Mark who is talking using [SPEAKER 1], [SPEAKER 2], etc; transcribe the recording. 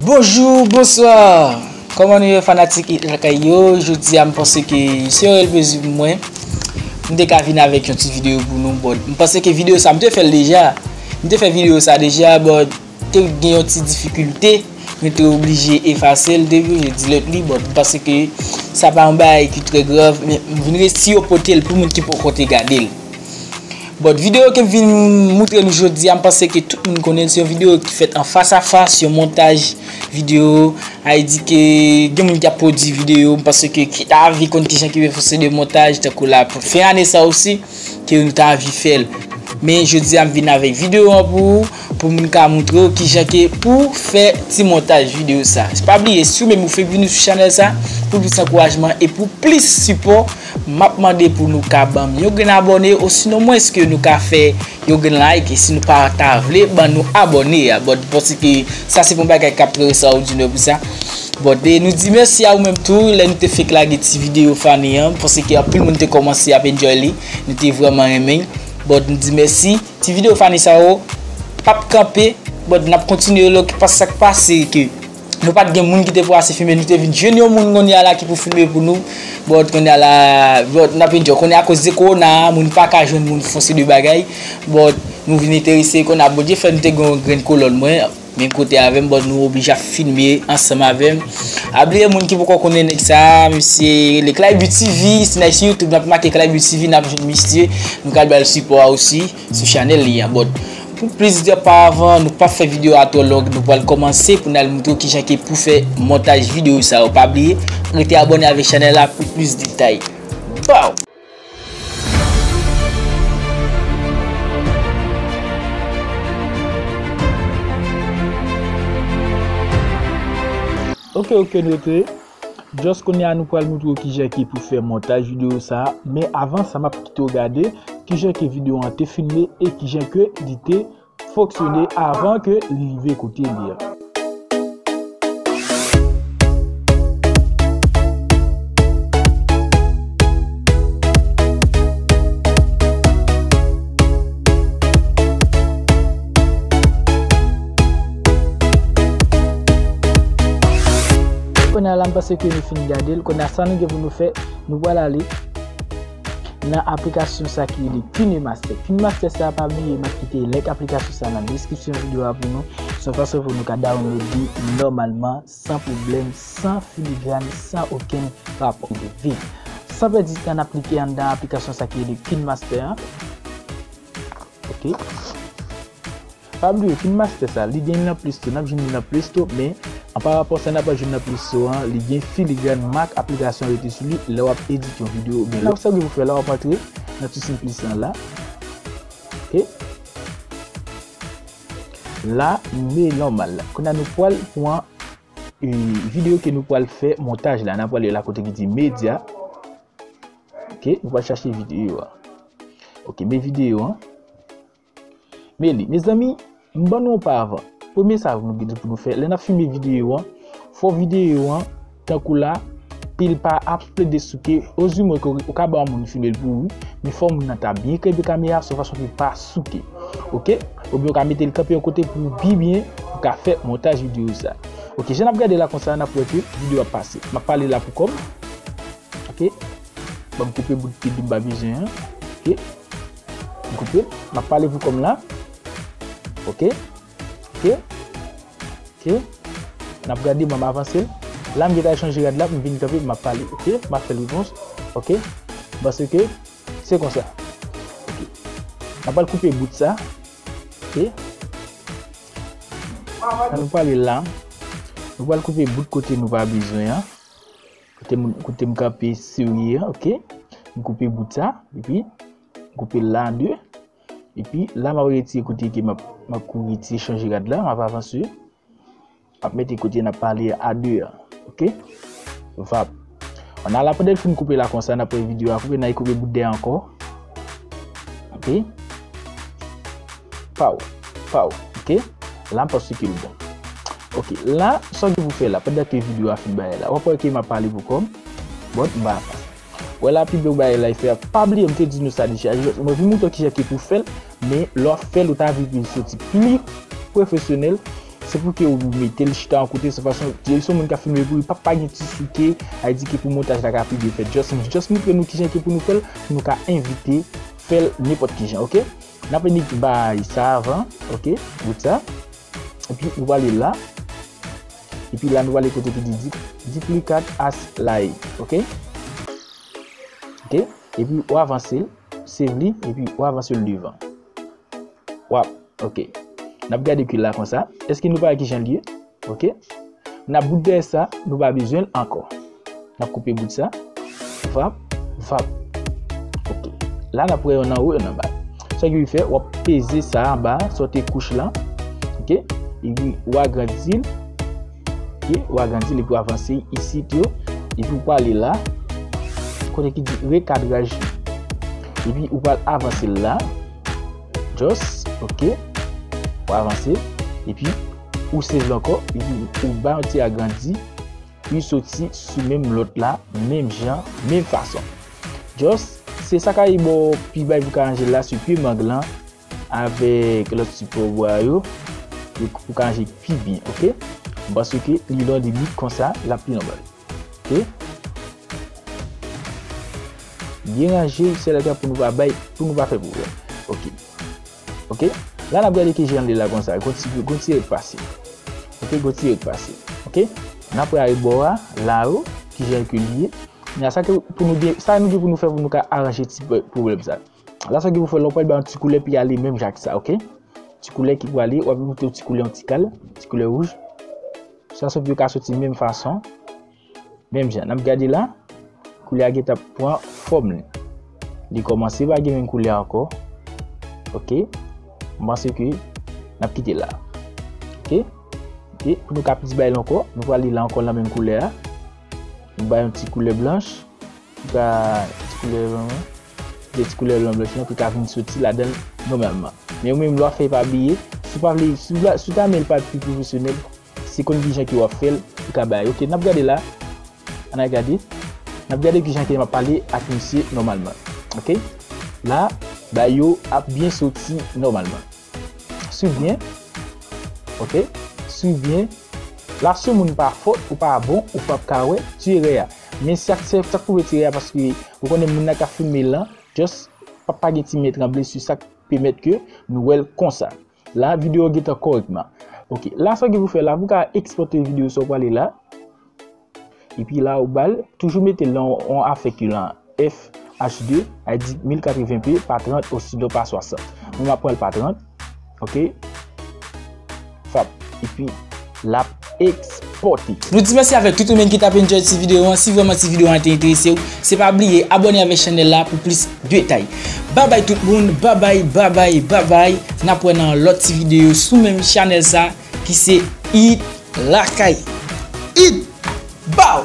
[SPEAKER 1] Bonjou, bonswa, kòman nou ye fanatik it lakay yo, jodi a m panse ke se yon elbezi pou mwen, m te ka vin avèk yon ti videyo pou nou, m panse ke videyo sa m te fèl deja, m te fè videyo sa deja, bòt. Te gen yon ti difikilte, nou te oblije efase l depi yo delete li, bon m panse ke sa pa yon bagay ki trè grav, men m vin resi yo pote l pou moun ki poko te gade l. Bon videyo ke m vin moutre nou jodi a m panse ke tout moun konnen l, se yon videyo ki fèt an fas a fas, yon montaj videyo, a e di ke gen moun ki ap pwodui videyo, m panse ke ki ta anvi konn kijan ki fè se de montaj tankou la pou fen ane sa osi, ke nou ta anvi fè l. Men jodi a m vin avèk videyo an pou ou. Pou mwen ka moutre w kijan ke pouw fè ti montaj video sa. Pa bliye si ou menm ou fek vini sou chanèl sa, pou plis ankourajman e pou plis sipò map mande pou nou ka banm yon grenn abòne osinon mwens ke nou ka fè yon grenn like e si nou pa ta vle ban nou abòne a but paske sa se pa yon bagay kap trè extraordinaire pou sa but e nou di mèsi a ou menm tou lè nou te fek lage ti video funny an paske anpil moun te kòmanse ap enjoy li nou te vrèman renmen but nou di mèsi. Ti video funny sa yo pap kanpe but nap kontinye yo lòk pas sak pase ke nou pat gen moun ki te pou ase filme nou te vin jwenn yon moun konnya la ki pou filme pou nou but konnya la but nap enjoy konnya akoz de corona a moun paka jwenn moun fon seri de bagay but nou vin enterese konnya Bondye fè nou te gen yon grenn kolòn mwen Men kote avèm but nou oblije ap filme ansanm avèm a bliye moun ki poko konnen nèg sa misye rele clayby TV si nal sou YouTube nap make clayby TV nap jwenn misye nou ka al bal sipò a osi sou chanèl li an but pou plis de pa avan nou pap fè video a twò long nou pwal kòmanse pou nal moutre w kijan ke pou fè montaj video sa yo pa bliye rete abòne avèk chanèl la pou plis detay baww. Ok ok nou rete, just kounye a nou pral moutre w kijan ki pou fè montaj videyo sa, men avan sa map kite w gade kijan ke videyo an te filme e kijan ke li te. Foksyone avan ke li rive kote li a. Kounye a la m panse ke nou fin gade l. Kounye a sa nou gen pou nou fè, nou pral ale. nan aplikasyon sa ki rele KineMaster. KineMaster sa pa bliye map kite link aplikasyon sa nan deskripsyon video a pou nou. Son fason pou nou ka download li normalman, san problem, san filigrane, san okenn rapò de vi. San pèdi tan nap klike an nan aplikasyon sa ki rele KineMaster. Ok. Pa bliye fin master sa li gen nan play store nap jwenn li nan play store men an pa rapò sa nap jwenn nan play store an li gen filigran mak aplikasyon rete sou li lè wap edit yon video ou byen lè sa ou gen pou fè la wap antre nan ti simplice lan la ok la me normal la kounya nou pwal pwan video ke nou pwal fè montaj la nan pwal la kote ki di media ok nou pwal chache video a ok me video an. Meli, Mezanmi, m ban nou yon pa avan. Premye sa nou gen pou nou fè, lè n ap filme videyo an, fò videyo an, tankou la, pil pa ap plede souke, ozimwen ke ou ka ba yon moun filme l pou ou, men fò moun nan ta byen kenbe kamera sou fason pou l pa souke. Ok? Oubyen ou ka mete l kanpe yon kote pou ou pi byen, pou ka fè montaj videyo sa. Ok, jan n ap gade la konsa, n ap wè ke videyo ap pase. M ap pale la pou kò m. Ok? Ban m koupe bout pil m pa bezwen an. Ok? Goupe, m ap pale pou kò m la. Ok. Ok. Ok. N ap gade, m ap avanse. La m gen tan chanje rad la, m vin kanpe, m ap pale. Ok. M ap fè l repons. Ok. Pase ke, se kon sa. Ok. N ap pral koupe bout sa. Ok. An nou pale la. Nou pral koupe bout kote nou pa bezwen an. Kote m kanpe serye an ok. M koupe bout sa epi m koupe l la an 2. Epi la m ap retire kote ke m ap kouri ti chanje rad la. M ap avanse. M ap mete kote n ap pale a 2 an. Ok. Vap. An ala pandan l fin koupe la konsa n ap wè video a koupe. N al koupe bout dèyè ankò. Ok. Paw, paw, ok La m pa si ke l bon Ok, la, sa w gen pou fè la Pandan ke video a fin bagay la Wap wè ke m ap pale pou kò m But, m pa aprann Wè la pi bèw bagay la e fè a Pa bliye m te di nou sa deja Jis mwen vin moutre w kijan ke pou fè l Men, lè wap fè l ou ta vle pou l soti pli pwofesyonèl Se pou
[SPEAKER 2] ke ou mete l chita yon kote Se fason, di l se yon moun k ap filme pou li Pa pa gen ti souke A di ke pou montaj la ka pi byen fèt Jis m jis moutre nou kijan ke pou nou fè l Pou nou ka evite fè l nenpòt kijan, ok Nap enik bay sa avan ok bout sa epi nou wale la epi la nou wale kote ki di duplicate as laye ok ok epi ou avanse save li epi ou avanse l devan wap ok nap gade ki la konsa eske nou pa wè kijan l ye. Ok Nap bout dèyè sa nou pa bezwenl ankò Nap koupe bout sa Vap vap Ok La nap wè yonn anwo yonn anba Sa ki pou fè wap peze sa anba Sote kouch lan Ok Epi ou agrandil Ok ou agrandil epi ou avanse isit yo Epi ou pwale la Kote ki di rekadraj Epi ou pwale avanse la Just Ok Ou avanse Epi Ou save l ankò epi ou bay yon ti agrandi pou l soti sou menm lòt la menm jan, menm fason. Just se sa ka pi bon pi bay pou ka ranje l la sou pye mang lan avèk lòt sipò ou bwa yo pou ka ranje pi byen ok. M panse ke li lon di bit konsa l ap pi nòmal ok. Byen ranje sèlè pou nou pa bay pou nou pa fè pwoblèm ok. Ok la nap gade kijan li la konsa gon ti gon ti rèk pase ok gon ti rèk pase ok nap rayi bò a la o kijan ke li ye la sa ke pou nou gen sa nou gen pou nou fè pou nou ka aranje ti pwoblèm sa la sa ke pou fè lè w pral bay yon ti koulè pou y ale menm jan ak sa ok ti koulè ki pou ale wap vin mete yon ti koulè yon ti kal ti koulè wouj sa sa pou yo ka soti menm fason. Menm jan nap gade la, koulye a gentan pran fòm li. Li kòmanse pa gen menm koulye ankò. Ok, m panse ke nap kite la. Ok, ok, pou nou ka plis bay lon kò, nou pral li la ankò nan menm koulye a. Nou bay yon ti koulye blanch, ki ka ti koulye blanch lan. Gen ti koulye blanch blanch lan ki ka vin soti ladan nòmalman. Men ou menm lwa fè pa bliye, si ou pa vle, si ou ta men l pa pi pwofesyonèl. Si konn ki jan ke wap fel ou ka bay ok nap gade la an al gade nap gade ki jan ke map pale ak misye nomalman ok la bay yo ap byen soti nomalman swiv byen ok swiv byen la si yon moun pa fot ou pa bon ou pap ka we ti erè a men sa sak pou we ti erè a paske ou konnen moun la ka filme lan just pa gen ti men tranble si sak pemet ke nou wel konsa. La video gentan korek ma. Ok la sa gen pou fè la pou ka ekspote video sa ou pale la. Epi la ou bal toujou mete lan on afèk yo lan FH2 a di 1080p pa 30 osinon pa 60. Mwen ma pranl pa 30. Ok. Fap. Epi. lap ekspòte. Nou di mèsi avèk
[SPEAKER 1] tout ou menn ki tap enjoy ti video an, si vrèman ti video an te enterese ou, se pa bliye abòne avèk chanèl la pou plis detay. Babay tout moun, babay, babay, babay, nap wè nan lòt ti video sou menm chanèl sa ki se Hit Lakay. Hit! Baww!